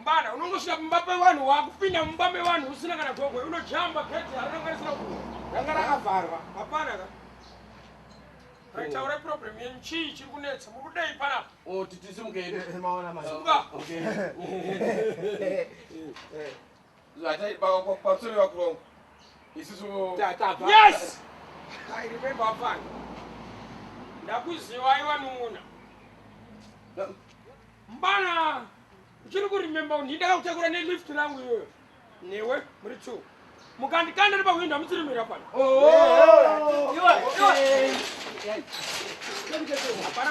mbada unongosvika mumba pevanhu wakupinda mumba mevanhu usina kana gogwe unojamba geti harinakwanisira ku ranga rakavharwa hapana ka taura problem yenyu chii chiri kunetsa muri kudei panapa oh, titisimukeemaona Yes! I remember afana. Ndakuziva iwa numuna. Mbana uchiri kurememba kuti ndakakutakura nelift rangu iyoyo newe muri two mukandikanda ri pahwindo hamutsirimira pano hapana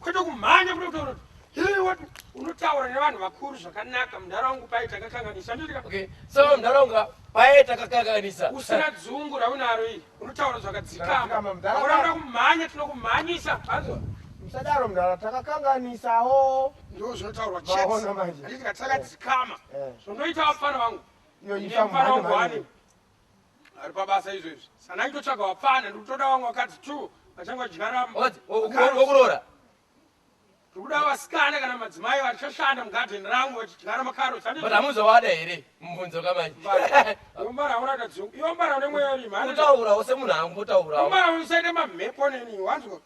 kwete kumhanya kuda kutaura kuti hii wati unotaura nevanhu vakuru zvakanaka mudhara wangu paye takakanganisa ndotika okay so mudhara wangu paye takakanganisa usina dzungu raunaro iri unotaura zvakadzikama mudhara unoda kumhanya tinokumhanyisa hazvo musadaro mudhara takakanganisawo ndoo zvinotaurwa chete manje anditi katakadzikama eh. zvondoita vapfana vangu iyo ifamhanya manje Ari pabasa izvezvi. Sana itotsvaga wapfana ndikutoda wangu wakadzi two vachange vadyara wokuroora. Tikuda vasikana kana madzimai vachashanda mugarden rangu vachidyara makarotsi. But hamuzowada here mubvunzo kamanje. Yombara hauna kadzi yombara une mweya rima. Utaurawo semunhu angu utaurawo. Yombara usaite mamhepo neni wanzwa.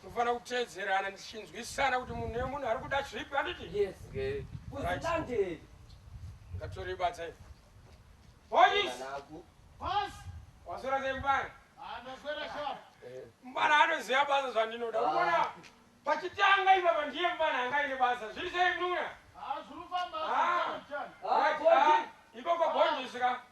Tinofanira kuteedzerana tichinzwisisana kuti munhu nemunhu ari kuda zvipi handiti? Yes. Okay. Kuzvilanderi. Ngatori badza iwe. Boys. Boss. Waswera sei mbana? Ah, ndaswera sharp. Eh. Mbana anoziva basa zvandinoda. Ah. Unaona? Pachitanga ipapa ndiye mbana anga ine basa. Zviri sei mnuna? Ah, zviri kufamba. Ah. Ah, ah. Ikoko bonjisika.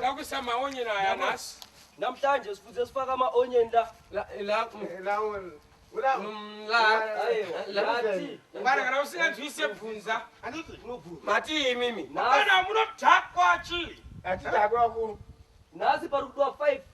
Nakusa maonye na ya nas. Namhlanje sifuze sifaka ama onye nda. La la la. La la. Ngara ngara usina twise bvunza. Anoti unobvunza. Mati mimi. Ngara munotakwa chi. Ati takwa ku. Nasi parikuwa 5.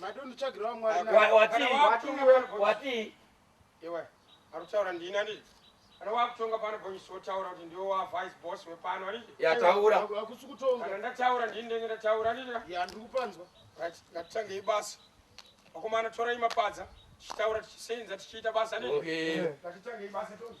madonitsvagirawo mwari watii iwe ari kutaura ndini andii kana wakutonga pano bonyisi wotaura kuti ndiwo wavice boss wepano andii yataura akusi kutonga kana ndataura ndini ndenge ndataura andii ya ndiri kupanzwa right ngatitangei basa vakomana torai mapadza tichitaura tichisenza tichiita basa andii ngatitangei basa tonzi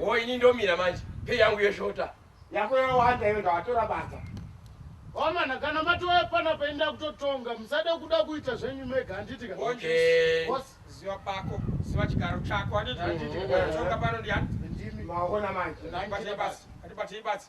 wo ini ndomira manje pei yangu yeshota yako yawanda iyo ndawatora badza wamana kana matoya pana painda kutotonga musada kuda kuita zvenyu mega handiti ka Okay. Boss, ziva pako ziva chigaro chako handiti Handiti. tonga pano ndiyani ndimi maona manje Handiti basi, handiti basi.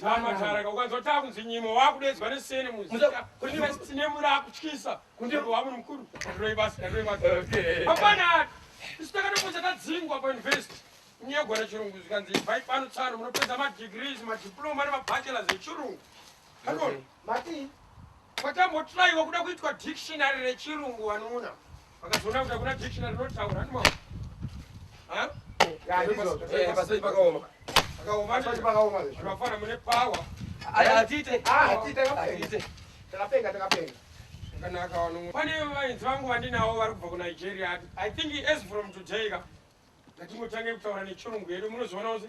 Tamba taraka ukanzwa takunzi nyimo wakudedzwa nesene muzita kune muri akutyisa kundiro wamunhu mukuru ndiroi basa ndiroi basa hapana isu takatoposa tadzingwa pauniversity nyaya yegwara chirungu zvikanzi ivai pano tsano munopedza madegrees madiploma nemabachelors echirungu hanoni mati kwatambotiraiwa kuda kuitwa dictionary rechirungu vanuna Vakazoona kuti hakuna dictionary rinotaura hanti mama. Ha? Eh, pasai pakaoma. Pakaoma. Pasai pakaoma. Zvakafana mune power. Atite. Ah, atite. Atite. Takapenga, takapenga. Kanaka wanu. Pane vainzi vangu vandinawo vari kubva kuNigeria. I think as from today ka. Ngatimutange kutaura nechirungu yedu munozoona kuti